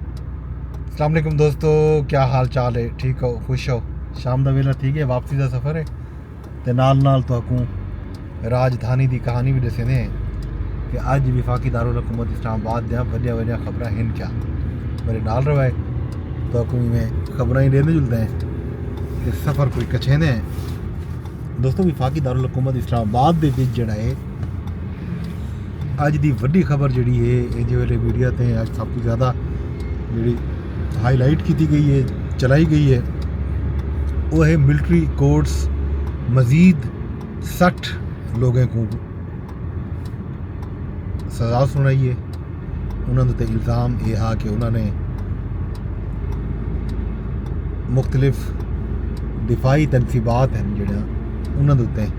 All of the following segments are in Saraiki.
السلام علیکم دوستو کیا حال چال ہے ٹھیک ہو خوش ہو شام دا ویلا تھی گیا واپسی دا سفر ہے تے نال نال تو حکوم راجدھانی دی کہانی بھی دسے ہیں کہ اج وفاقی دارالحکومت اسلام آباد دیاں وڈیا وڈیا خبراں ہیں کیا میرے نال روائے تو حکوم میں خبراں ہی دیندے جلدے ہیں تے سفر کوئی کچھے ہیں دوستو وفاقی دارالحکومت اسلام آباد دے بیچ جڑا ہے اج دی وڈی خبر جیڑی ہے اے جے ویلے میڈیا تے اج سب توں زیادہ جیڑی ہائی لائٹ کیتی گئی ہے چلائی گئی ہے او ہے ملٹری کورٹس مزید سٹھ لوگیں کو سزا سنائی ہے انہاں دے الزام اے ہا کہ انہاں نے مختلف دفاعی تنصیبات ہیں جیڑا انہاں دے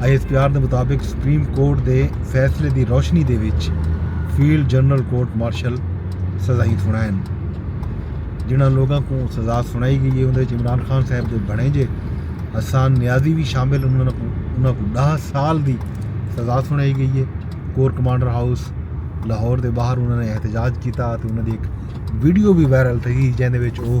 آئی ایس پی آر دے مطابق سپریم کورٹ دے فیصلے دی روشنی دے وچ فیلڈ جنرل کورٹ مارشل سزائیں سنائن جنہاں لوگوں کو سزا سنائی گئی ہے اندر عمران خان صاحب دے بنے جے حسان نیازی بھی شامل انہوں کو انہوں کو دہ سال دی سزا سنائی گئی ہے کور کمانڈر ہاؤس لاہور دے باہر انہوں نے احتجاج کیتا تے انہوں دی ایک ویڈیو بھی وائرل تھی جہاں دے وچ وہ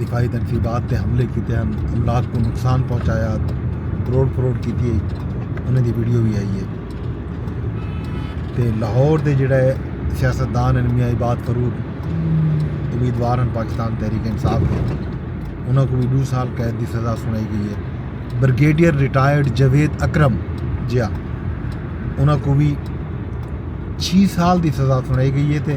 دفاعی تنصیبات تے حملے کیتے ہن، املاک کوں نقصان پہنچایا، تروڑ پھروڑ کیتی ہئی، انہاں دی ویڈیو وی آئی ہے۔ تے لاہور دے جیڑھے سیاست دان ہن میاں عباد فاروق امیدوار ہن پاکستان تحریک انصاف دے انہاں کوں وی ݙو سال قید دی سزا سݨائی ڳئی ہے۔ بریگیڈیئر ریٹائرڈ جاوید اکرم جیہاں انہاں کوں وی چھی سال دی سزا سݨائی ڳئی ہے تے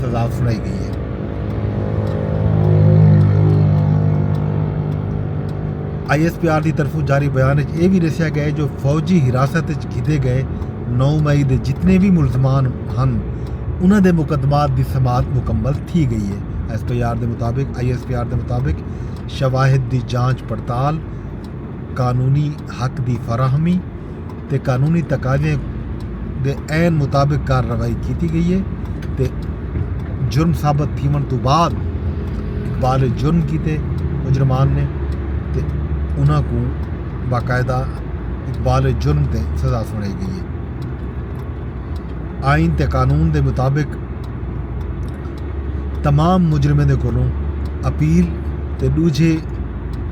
سزا سݨائی ڳئی اے۔ آئی ایس پی آر دی طرفوں جاری بیان اچ اے وی ݙسیا ڳئے جو فوجی حراست اچ گھدے ڳئے نو مئی دے جتنے وی ملزمان ہن انہاں دے مقدمات دی سماعت مکمل تھی ڳئی اے۔ ایس پی آر دے مطابق آئی ایس پی آر دے مطابق شواہد دی جانچ پڑتال، قانونی حق دی فراہمی، تے قانونی تقاضیاں دے عین مطابق کارروائی کیتی گئی ہے تے جرم ثابت تھیون توں بعد اقبال جرم کیتے مجرمان نے تے انہاں کو باقاعدہ اقبال جرم تے سزا سنائی گئی ہے آئین تے قانون دے مطابق تمام مجرمیں دے کولوں اپیل تے ݙوجھے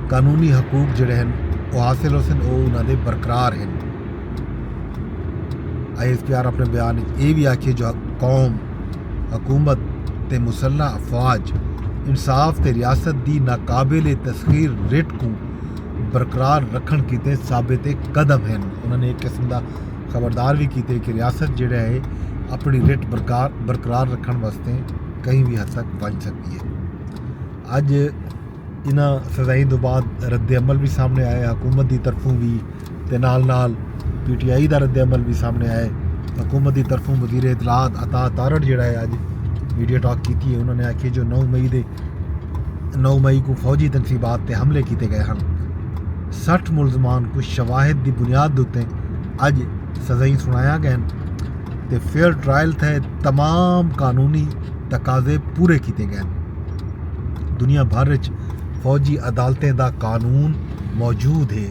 قانونی حقوق جڑے ہن او حاصل ہوسن او انہاں دے برقرار ہن۔ آئی ایس پی آر اپنے بیان وچ اے وی آکھیے جو قوم، حکومت تے مسلح افواج انصاف تے ریاست دی ناقابل تسخیر رٹ کوں برقرار رکھݨ کیتے ثابت قدم ہن۔ انہاں نے اے قسم دا۔ خبردار وی کیتے کہ ریاست جیڑھا ہے اپنڑی رٹ برقرار رکھنڑ واسطے کہیں وی حد تک ونج سگدی ہے۔ اج انہاں سزائیں دو بعد رد عمل وی سامنڑے آیا ہے حکومت دی طرفوں وی تے نال نال پی ٹی آئی دا رد عمل وی سامنڑے آیا ہے۔ حکومت دی طرفوں وزیر اطلاعات عطاء تارڑ جیڑھا ہے اج میڈیا ٹاک کیتی ہے انہاں نے آکھیا جو نو مئی دے۔ نو مئی کوں فوجی تنصیبات تے حملے کیتے گئے ہن۔ سٹھ ملزمان کوں شواہد دی بنیاد اتے اج سزائیں سنایا گئن تے فیئر ٹرائل تھئے تمام قانونی تقاضے پورے کیتے گئن۔ دنیا بھر اچ فوجی عدالتیں دا قانون موجود ہے۔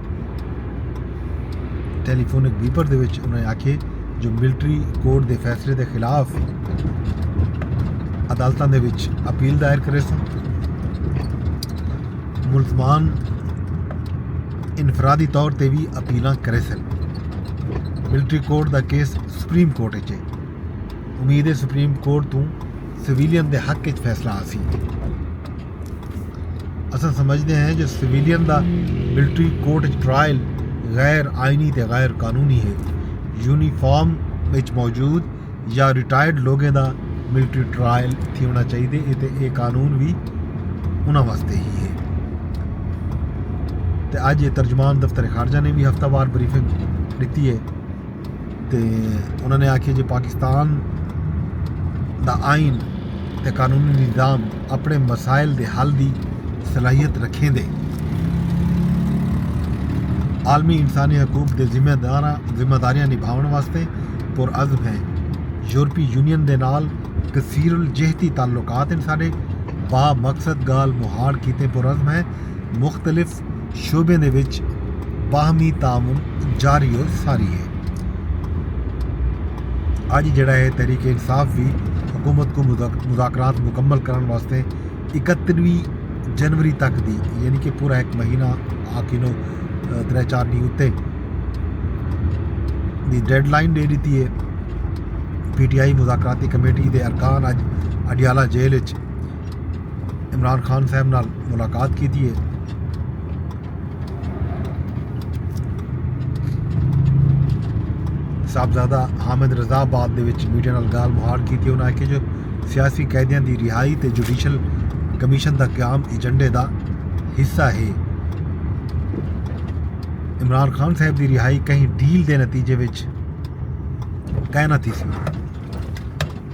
ٹیلی فونک بیپر دے وچ انہوں نے آکھے جو ملٹری کورٹ دے فیصلے دے خلاف عدالتوں دے وچ اپیل دائر کرے سن ملزمان انفرادی طور تے بھی اپیلاں کرے سن ملٹری کورٹ دا کیس سپریم کورٹ اچ ہے امید ہے سپریم کورٹ تو سویلین دے حق اچ فیصلہ آسی اساں سمجھدے ہیں جو سویلین دا ملٹری کورٹ اچ ٹرائل غیر آئینی تے غیر قانونی ہے۔ یونیفارم اچ موجود یا ریٹائرڈ لوگیں دا ملٹری ٹرائل تھیونڑاں چاہیدے اے تے اے قانون وی انہاں واسطے ہی ہے۔ تے اج اے ترجمان دفتر خارجہ نے وی ہفتہ وار بریفنگ ڈتی اے۔ تے انہاں نے آکھیا جو پاکستان دا آئین تے قانونی نظام اپنڑے مسائل دے حل دی صلاحیت رکھیندے، عالمی انسانی حقوق دے ذمہ داریاں نبھاونڑ واسطے پرعزم ہیں، یورپی یونین دے نال کثیر الجہتی تعلقات ہن ساڈے، بامقصد گالھ مہاڑ کیتے پرعزم ہیں، مختلف شعبیں دے وچ باہمی تعاون جاری و ساری ہے۔ اج جیڑا ہے تحریک انصاف بھی حکومت کو مذاکرات مکمل کرن واسطے اکتیویں جنوری تک دی یعنی کہ پورا ایک مہینہ آ کنوں ترے چار ڈینھ اتے دی ڈیڈ لائن دے ڈتی ہے۔ پی ٹی آئی مذاکراتی کمیٹی دے ارکان اج اڈیالہ جیل اچ عمران خان صاحب نال ملاقات کیتی ہے صاحبزادہ حامد رضا آباد دے وچ میڈیا نال گال مہاڑ کیتی انہاں آکھیا جو سیاسی قیدیاں دی رہائی تے جوڈیشل کمیشن دا قیام ایجنڈے دا حصہ ہے عمران خان صاحب دی رہائی کہیں ڈیل دے نتیجے وچ کائنا تھی سی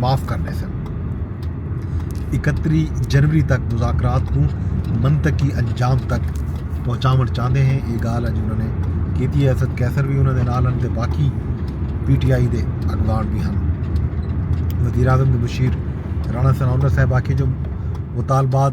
معاف کر ݙیسن۔ اکتری جنوری تک مذاکرات کوں منطقی انجام تک پہنچاوݨ چاہندے ہیں یہ گال اج انہوں نے کیتی ہے اسد قیصر بھی انہوں نے نال ہن تے باقی پی ٹی آئی دے اگوان بھی ہن وزیر اعظم مشیر رانا ثناء اللہ صاحب آکھے جو مطالبات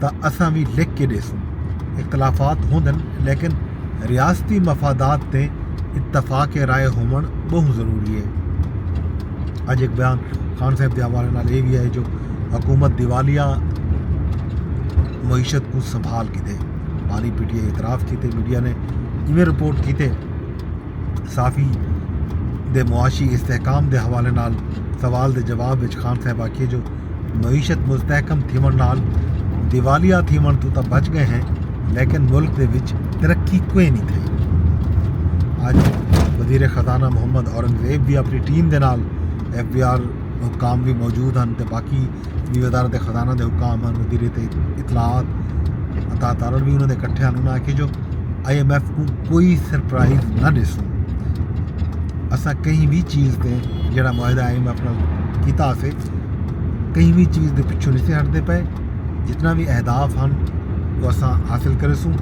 تاں اساں وی لکھ کے ڈیسوں اختلافات ہوندن لیکن ریاستی مفادات تے اتفاق رائے ہومن بہت ضروری ہے اج ایک بیان خان صاحب دے حوالے نال یہ بھی ہے جو حکومت دیوالیہ معیشت کو سنبھال کی دے پانی پی ٹی آئی اعتراف کیتے میڈیا نے ایویں رپورٹ کیتے صافی دے معاشی استحکام دے حوالے نال سوال دے جواب وچ خان صاحب آکھیے جو معیشت مستحکم تھیوݨ نال دیوالیہ تھیوݨ توں تاں بچ ڳئے ہیں لیکن ملک دے وچ ترقی کوئے نہیں تھئی اج وزیر خزانہ محمد اورنگزیب بھی اپنی ٹیم دے نال ایف بی آر حکام بھی موجود ہیں تے باقی بھی وزارت خزانہ دے حکام ہیں وزیر اطلاعات عطا تارڑ بھی انہوں نے کٹھے ہیں انہوں نے آکھے جو آئی ایم ایف کو کوئی سرپرائز نہ ڈسوں اساں کہیں بھی چیز تے جڑا معاہدہ آئی ایم ایف نال کیتا سے کہیں بھی چیز دے پچھوں نہیں ہٹ دے پائے جتنا بھی اہداف ہن وہ اساں حاصل کرے سوں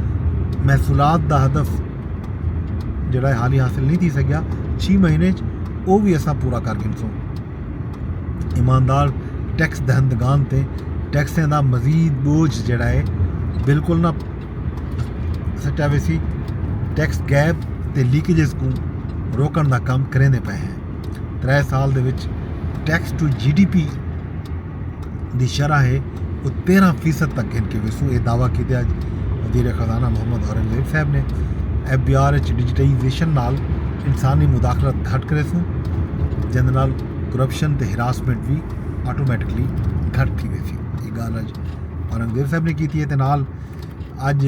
محصولات دا ہدف جڑا ہے حالی حاصل نہیں تھی سکیا چھ مہینے وہ بھی اساں پورا کر گن سوں ایماندار ٹیکس دہندگان تے ٹیکسیں دا مزید بوجھ جڑا ہے بالکل نہ سٹا ویسی ٹیکس گیپ تے لیکیجز کو روکن دا کام کریں دے پائے ہیں ترے سال دے وچ tax to G D P دی شرح ہے وہ تیرہ فیصد تک گھن کے ویسو یہ دعویٰ کیتے آج وزیر خزانہ محمد اورنگزیب صاحب نے ایف بی آر اچ ڈیجیٹائزیشن نال انسانی مداخلت گھٹ کرے سوں جن نال کرپشن تے ہراسمنٹ بھی آٹومیٹکلی گھٹ تھی ویسی یہ گال اج اورنگزیب صاحب نے کیتی ہے تے نال اج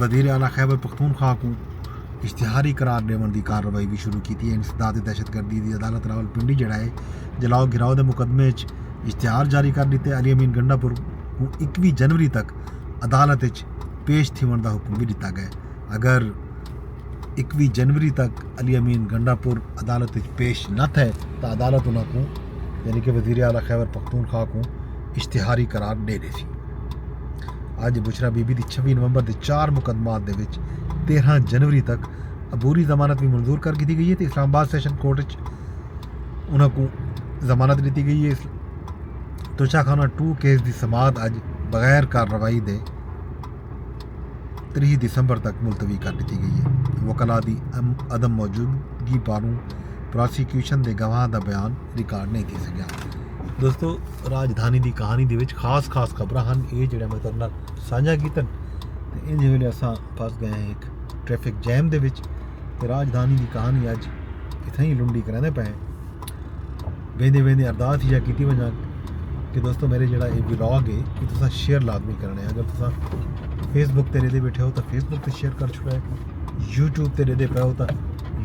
وزیر اعلی خیبر پختونخوا کوں اشتہاری قرار ڈیونڑ دی کارروائی وی شروع کیتی اے، انسداد دہشت گردی دی عدالت راولپنڈی جیڑھا اے جلاؤ گھراؤ دے مقدمے اچ اشتہار جاری کر ڈتے، علی امین گنڈا پور کوں اکیوی جنوری تک عدالت اچ پیش تھیونڑ دا حکم وی ڈتا گئے اگر اکویہہ جنوری تک علی امین گنڈا پور عدالت اچ پیش نہ تھئے تاں عدالت انہاں کوں یعنی کہ وزیر اعلی خیبر پختونخوا کوں اشتہاری قرار ڈے ڈیسی۔ اج بشرا بی بی دی چھوی نومبر دے چار مقدمات دے وچ تیرہاں جنوری تک عبوری ضمانت وی منظور کر گھدی گئی ہے تے اسلام آباد سیشن کورٹ اچ انہاں کوں ضمانت ڈتی گئی ہے۔ توشہ خانہ ٹو کیس دی سماعت اج بغیر کارروائی دے تریہہ دسمبر تک ملتوی کر ڈتی گئی اے۔ وکلاء دی عدم موجودگی پاروں پراسیکیوشن دے گواہاں دا بیان ریکارڈ نئیں تھی سگیا۔ دوستو راجدھانی دی کہانی دے وچ خاص خاص خبراں ہن اے جیڑھیاں میں تہاڈے نال سانجھا کیتن تے انج ویلے اساں پھس گئے ہیں ہک ٹریفک جیم دے وچ تے راجدھانی دی کہانی اج اتھاں ہی لنڈی کریندے پئے ہیں۔ ویندے ویندے ارداس ایہا کیتی ونجا کہ دوستو میرے جیڑا اے ولاگ اے کہ تساں شیئر لازمی کرنے اگر تساں فیس بک تے ڈیدے بیٹھے ہو تاں فیس بک تے شیئر کر چھوڑا ہے یوٹیوب تے ڈیدے پے ہو تاں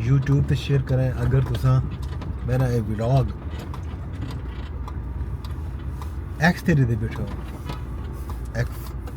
یوٹیوب تے شیئر کریں اگر تساں میرا اے ولاگ ایکس تے ڈیدے بیٹھے ہو ایکس